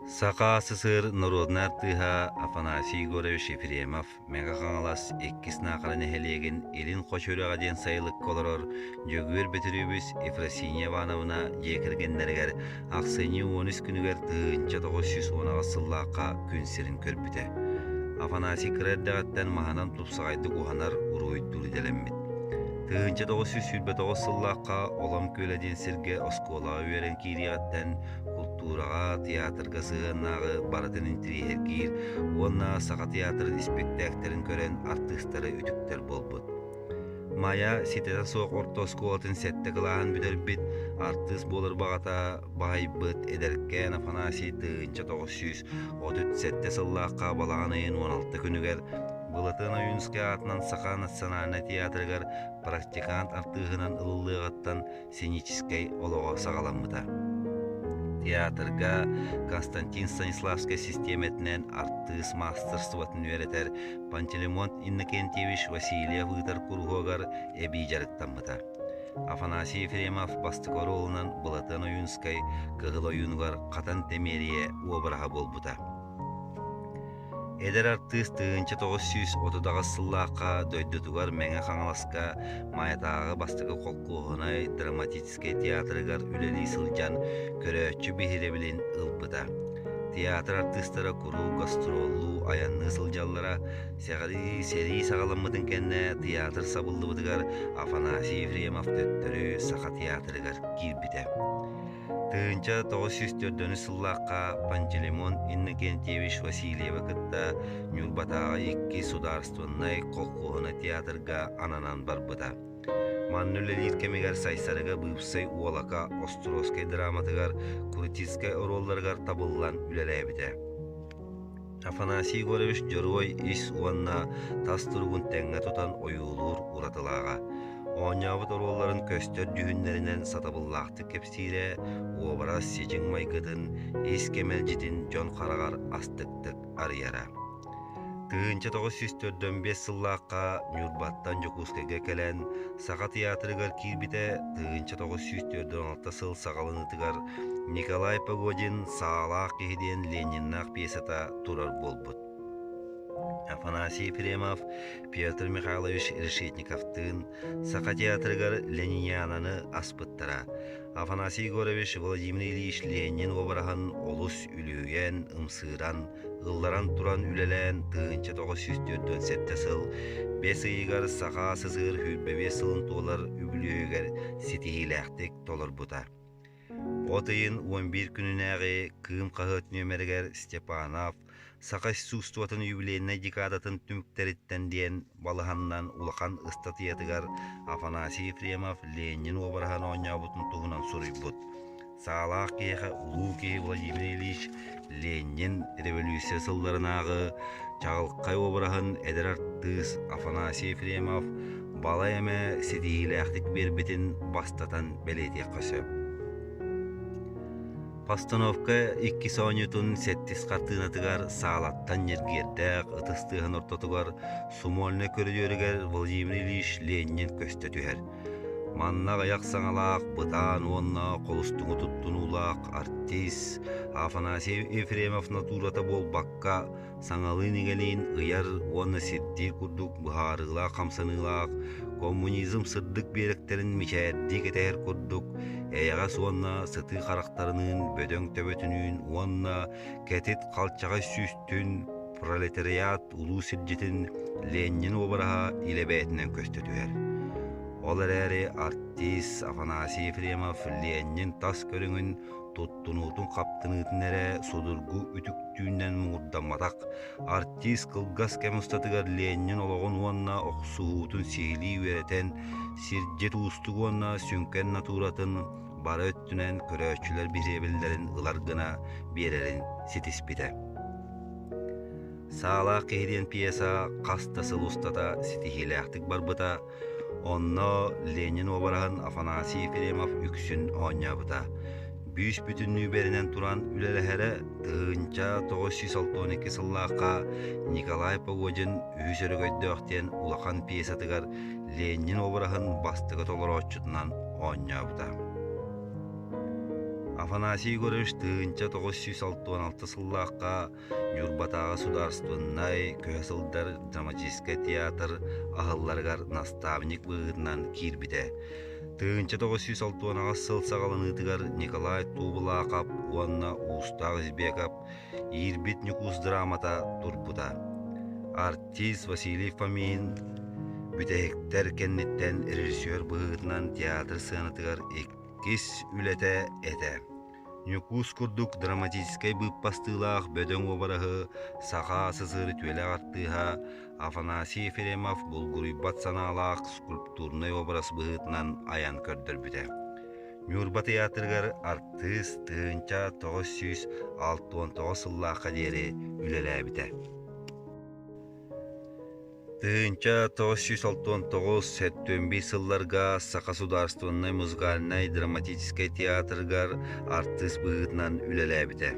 Саха СССР норуодунай артыыһа Афанасий Егорович Ефремов Мега-Хаҥалас иккис Наахара нэһилиэгин Илин Хоч үрэҕэ диэн сайылыкка олорор Дьөгүөр Бөтүрүөбүс Ефросинья Ивановна дьиэ кэргэннэригэр ахсынньы уон үс күнүгэр тыһыынча тоҕус сүүс уон аҕыс сыллаахха күн сирин көрбүтэ. Афанасий кыра эрдэҕиттэн маһынан тупсаҕайдык уһанар, уруһуйдуур идэлэммит. Тыһыынча тоҕус сүүс сүүрбэтоҕус сыллаахха Олом Күөлэ диэн сиргэ оскуолаҕа үөрэн киириэҕиттэн култуураҕа, театрга сыһыаннааҕы барытын интириэһиргиир уонна саха театрын испиэктээктэрин көрөн артыыстара үтүктэр буолбут. Майа ситэтэ суох орто оскуолатын сэттэ кылааһын бүтэрбит артыыс буолар баҕата баһыйбыт эдэркээн Афанасий тыһыынча тоҕус сүүс Отут сэттэ сыллаахха балаҕан ыйын уон алта күнүгэр Былатыан Ойуунскай аатынан Саха национальнай театрыгар практикант артыыһынан ылыллыаҕыттан сценическэй олоҕо саҕаламмыта. Театрга Константин Станиславскай систиэмэтинэн артыыс маастарыстыбатын үөрэтэр Пантелеймон Иннокентьевич Васильев ыытар куруһуогар эбии дьарыктаммыта. Афанасий Ефремов бастакы оруолунан Былатыан Ойуунскай Кыһыл ойуунугар Хатан Тэмиэрийэ уобараһа буолбута. Эдэр артыыс тыһыынча тоҕус сүүс отудаҕас сыллаахха дойдутугар Мэҥэ Хаҥаласка Маятааҕы бастакы холкуоһунай драматическай театрыгар үлэлии сылдьан көрөөччү биһирэбилин ылбыта. Театр артыыстара куруук гастроллуу, айанныы сылдьаллара, Сэҕэлии сэрии саҕаламмытын кэннэ тыйаатыр сабыллыбытыгар Афанасий Ефремов төттөрү Саха театрыгар киирбитэ. Тыһыынча тоҕус сүүс төрдөнүс сыллаахха Пантелеймон Иннокентьевич Васильева кытта Ньурбатааҕы икки судаарыстыбаннай холкуоһуна театрга ананан барбыта. Манна үлэлиир кэмигэр Сайсарыга быыпсай уолака Островскай драматыгар, Крутицкай оруолларыгар табыллан үлэлээбитэ. Афанасий Егорович дьоруой ис уонна тас туругун тэҥҥэ тутан ойуулуур уратылааҕа. Оонньообут оруолларын көстөр дүүһүннэринэн сатабыллаахтык кэпсиирэ, уобарас сичиҥ майгытын, ис кэмэлдьитин дьон хараҕар астыктык арыйара. Тыһыынча тоҕус сүүс төрдөн биэс сыллаахха Ньурбаттан Дьокуускайга кэлэн, Саха театрыгар киирбитэ тыһыынча тоҕус сүүс түөрт уон алта сыл саҕаланыытыгар Николай Погодин «Саалаах киһи» диэн Лениннаах пьесата турар буолбут. Афанасий Ефремов, Петр Михайлович Решетниковтыын Саха театрыгар Ленинянаны аспыттара. Афанасий Егорович Владимир Ильич Ленин уобараһын олус үлүһүйэн, ымсыыран, ылларан туран үлэлээн тыһыынча тоҕус сүүс түөртүн сэттэ сыл бэс ыйыгар саха сысыгыр сүүрбэ биэс сылын туолар үбүлүөйүгэр ситиһиилээхтик толорбута. От ыйын он биир күнүнээҕи Кыым хаһыат нүөмэригэр Степанов Саха искусствотын юбилейнай декадатын түмүктэриттэн диэн балаһаннан улахан ыстатыйатыгар Афанасий Ефремов Ленин уобараһын оонньообутун туһунан суруйбут. Саалаах киһиэхэ улуу киһи Владимир Ильич Ленин революция сылларынааҕы чаҕылхай уобараһын эдэр артыыс Афанасий Ефремов балай эмэ ситиһиилээхтик биэрбитин бастатан бэлиэтиэххэ сөп. Постановка иккис оонньуутун сэттис хартыынатыгар саалаттан ньиргиэрдээх ытыс тыаһын ортотугар сумольнай көрүдүөрүгэр Владимир Ильич Ленин көстө түһэр. Манна аҕыйах саҥалаах бытаан уонна холустуҥу туттунуулаах артист Афанасий Ефремов натурата буолбакка, саҥалыын-игэлиин ыйар уонна сирдиир курдук быһаарыылаах хамсаныылаах коммунизм сырдык биэрэктэрин мичээрдии кэтэһэр курдук эйэҕэс уонна сытыы харахтарыныын бөдөҥ төбөтүнүүн уонна кэтит халчаҕай сүүстүн пролетариат улуу сирдьитин ленин уобараһа илэ бэйэтинэн көстө түһэр ол эрээри артист афанасий ефремов ленин тас көрүҥүн тунуутун хаптыныытын эрэ судургу үтүктүүннэн муҥурдамматах артист кылгас кэм устатыгар Ленин олоҕун уонна охсуһуутун сиһилии үөрэтэн сирдьит уустук уонна сүҥкэн натууратын бары өттүнэн көрөөччүлэр бириэбиллэрин ылар гына биэрэрин ситиспитэ саалаах киһи диэн пьеса хас да сыл устата ситиһиилээхтик барбыта Онно Ленин уобараһын Афанасий Ефремов үксүн оонньообута. Бүүс-бүтүннүү бэринэн туран үлэлэһэрэ тыһыынча тоҕус сүүс алтан икки сыллаахха Николай Погодин үһүс өрөгөйдөөх диэн улахан пьесатыгар Ленин уобараһын бастакы толорооччутунан оонньообута. Афанасий Егорович тыһыынча тоҕус сүүс алтан алты сыллаахха Ньурбатааҕы судаарыстыбыннай көһө сылдьар драматическай театр аһылларыгар наставник быһыытынан киирбитэ. Тыһыынча тоҕус сүүс алтыанаҕас сыл саҕаланыытыгар Николай Туубулаахап уонна Уустаах Избеков иирбит Ньукуус драмата турбута. Артист Василий Фомин бүтэһиктэр кэнниттэн режиссер быһыытынан театр сыанатыгар иккис үлэтэ этэ. Ньукуус курдук драматическай быыппастыылаах бөдөҥ уобараһы саха СССР үтүөлээх артыыһа Афанасий Ефремов булгуруйбат санаалаах скульптурнай уобарас быһыытынан айан көрдөрбүтэ. Ньурба тыйаатырыгар артыыс тыһыынча тоҕус сүүс алта уон тоҕус сыллаахха диэри үлэлээбитэ. Тыһыынча тоҕус сүүс алтан тоҕус сэттүөн биир сылларга Саха судаарыстыбаннай музыкальнай драматическай театрыгар артыыс быһыытынан үлэлээбитэ.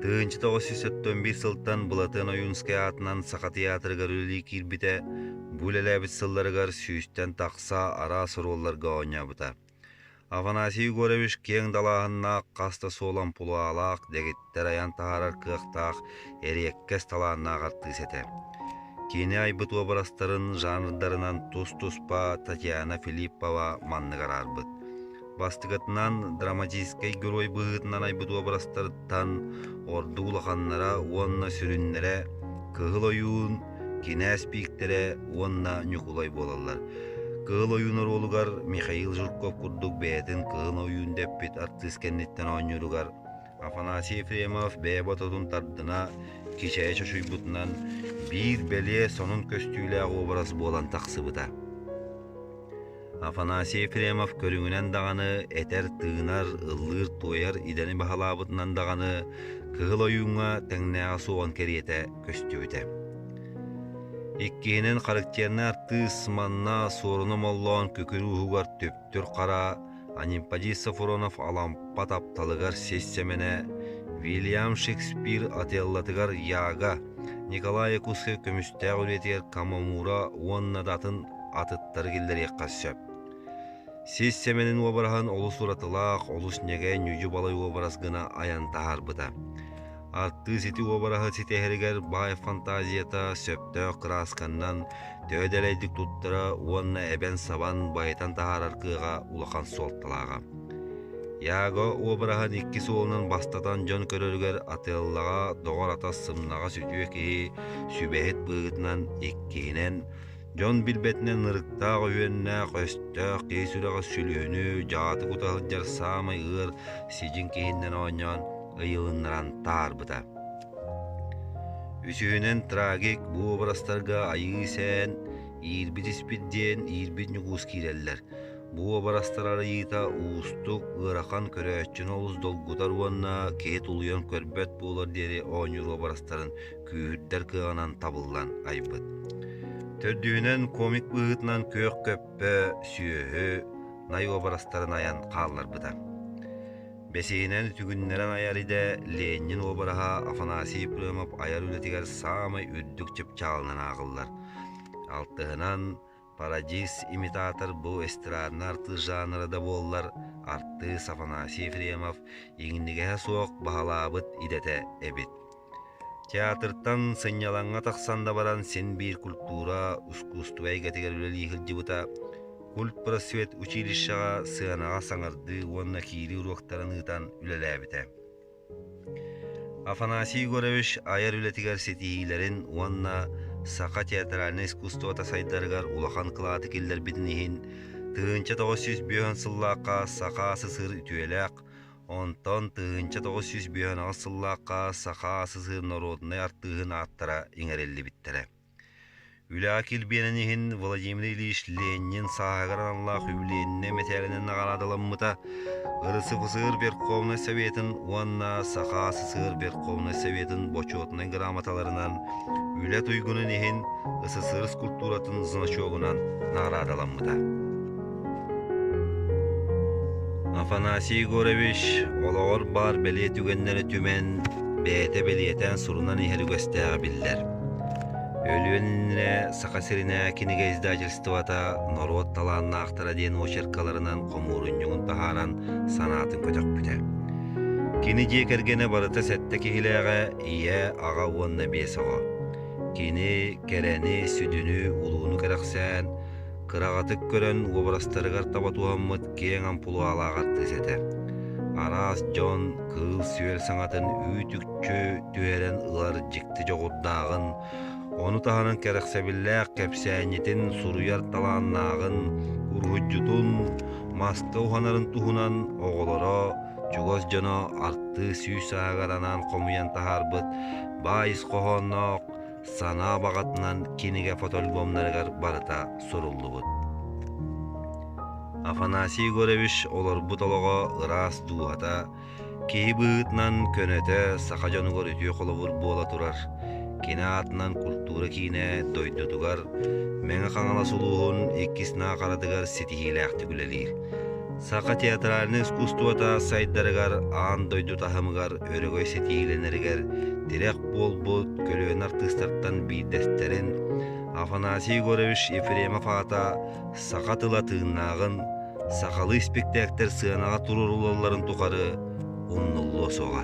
Тыһыынча тоҕус сүүс сэттүөн биир сылтан Былатыан Ойуунскай аатынан Саха театрыгар үлэлии киирбитэ. Бу үлэлээбит сылларыгар сүүстэн тахса араас оруолларга оонньообута. Афанасий Егорович киэҥ далааһыннаах хас да суолан пулаалаах дэгиттэр айан таһаарар кыахтаах эриэккэс талааннаах артыыс этэ. Кини айбыт уобарастарын жанрдарынан тус-туспа Татьяна Филиппова маннык араарбыт. Бастыкатынан драматическай герой быһыытынан айбыт уобарастарыттан орду улаханнара уонна сүрүннэрэ Кыһыл ойуун кинээс пииктэрэ уонна Ньукулай буолаллар. Кыыл ойуун оруолугар Михаил Жирков курдук бэйэтин кыыл ойуун дэппит артыыс кэнниттэн оонньууругар Афанасий Ефремов бэйэ бототун тардына кичэйэ чочуйбутунан биир бэлиэ сонун көстүүлээх уобарас буолан тахсыбыта. Афанасий Ефремов көрүҥүнэн даҕаны этэр, тыынар, ыллыыр, туойар идэни баһылаабытынан даҕаны Кыһыл Ойууҥҥа тэҥнээҕэ суоҕун кэриэтэ көстүбүтэ. Иккиһинэн характернай артыыс манна Суоруна Моллоон күкүрүү уһугар түптүр хара, Аниппадий Сафронов Алампа тапталыгар сис сэмэнэ, Вильям Шекспир Отеллатыгар Яга, Николай Якутскай көмүстээх үлэтигэр Камамура уонна да атын атыттары киллэриэххэ сөп. Сис Сэмэнин уобараһын олус уратылаах, олус ньэгэ Ньүдьү балай уобарас гына айан таһаарбыта. Артыыс ити уобараһы ситиһэригэр баай фантазията сөптөөх кыраасканнан төһө дэлэйдик туттара уонна эбэн-сабан байытан таһаарар кыаҕа улахан суолталааҕа. Яго уобараһын икки суолунан бастатан дьон көрөрүгэр атыаллаҕа, доҕор-атас сымнаҕас үтүө киһи сүбэһит быыгытынан иккиһинэн Дьон билбэтинэн ырыктаах үһүөннээх-өстөөх киһи сүрэҕэ сүлүөнү дьааты кута сылдьар саамай ыар сидьиҥ киһиннэн оонньоон ыйылыннаран таарбыта. Үсүһүнэн трагик бу образтарга айыы сээн иирбит испит диэн иирбит ньукуус киирэллэр. Бу образтар арыйыыта уустук, ыарахан көрөөччүнү олус долгутар уонна киһи тулуйан көрбөт буолар диэри оонньуур образтарын күүһүрдэр кыаҕынан табыллан айбыт. Төрдүһүнэн комик быһыытынан күөх көппө, сүөһү, най уобарастарын айан хаалларбыта. Бэсиһинэн түгүннэрэн айар идэ Ленин уобараһа Афанасий Прымов айар үлэтигэр саамай үрдүк чыпчаалынан ааҕыллар. Алтыһынан Парадиз-имитатор бу эстрадный артыыс жанра да буоллар, артыыс Афанасий Ефремов иҥнигэһэ суох баһылаабыт идэтэ эбит. Театртан сынньалаҥҥа тахсан да баран син-биир культура, ускуустуба эйгэтигэр үлэлии сылдьыбыта, культ-просвет училищеҕа сыанаҕа саҥардыы уонна киирии уруоктарын ыытан үлэлээбитэ. Афанасий Егорович айар үлэтигэр ситиһиилэрин уонна саха театральнай искусствота сайдарыгар улахан кылааты киллэрбитин иһин тыһыынча тоҕус сүүс бүөһүн сыллаахха саха СССР үтүөлээх, онтон тыһыынча тоҕус сүүс бүөһүн аҕыс сыллаахха саха СССР норуодунай артыыһын ааттара иҥэриллибиттэрэ. Үлэҕэ килбиэнин иһин Владимир Ильич Ленин сааһыгар аналлаах юбилейнай мэтээлинэн наҕараадаламмыта РСФСР Верховнай Советын уонна Саха СССР Верховнай Советын бочуотунай грамоталарынан, үлэ туйгунун иһин СССР скульптуратын значогунан наҕараадаламмыта. Афанасий Егорович олоҕор баар бэлиэ түгэннэрэ түмэн, бэйэтэ бэлиэтээн сурунан иһэр үгэстээх биллэр. Өлүөн иннинэ Саха сиринэ кинигэ издательствота норуот талааннаахтара диэн очеркаларынан хомуурунньугун таһааран санаатын көтөхпүтэ. Кини дьиэ кэргэнэ барыта сэттэ киһилээҕэ ийэ, аҕа уонна биэс оҕо. Кини кэрэни, сүдүнү, улууну кэрэхсээн, кыраҕатык көрөн уобарастарыгар таба туһаммыт киэҥ ампулуалаах артыыс этэ. Араас дьон кыыл-сүөл саҥатын үүт-үкчү түһэрэн ылар дьикти дьоҕурдааҕын, ону таһынан кэрэхсэбиллээх кэпсээнньитин суруйар талааннааҕын, уруһуйдьутун, маска уһанарын туһунан оҕолоро, чугас дьоно артыыс сүүс аһыгар анаан хомуйан таһаарбыт баайыс хоһоонноох Сана баҕатынан кинигэ фотоальбомнарыгар барыта суруллубут. Афанасий Егорович олорбут олоҕо ыраас дууһата, киһи быһыытынан көнөтө саха дьонугар үтүө холобур буола турар, кини аатынан культура киинэ дойдутугар Мэҥэ Хаҥалас улууһун иккис наахаратыгар ситиһиилээхтик үлэлиир. Саха театральнай искусствота сайдарыгар аан дойду таһымыгар өрөгөй ситиһиилэнэригэр тирэх буолбут көлүөнэ артыыстартан биирдэстэрин Афанасий Егорович Ефремов аата саха тыла тыыннааҕын, сахалыы испиктээктэр сыанаҕа туруоруллалларын тухары умнуллуо суоҕа.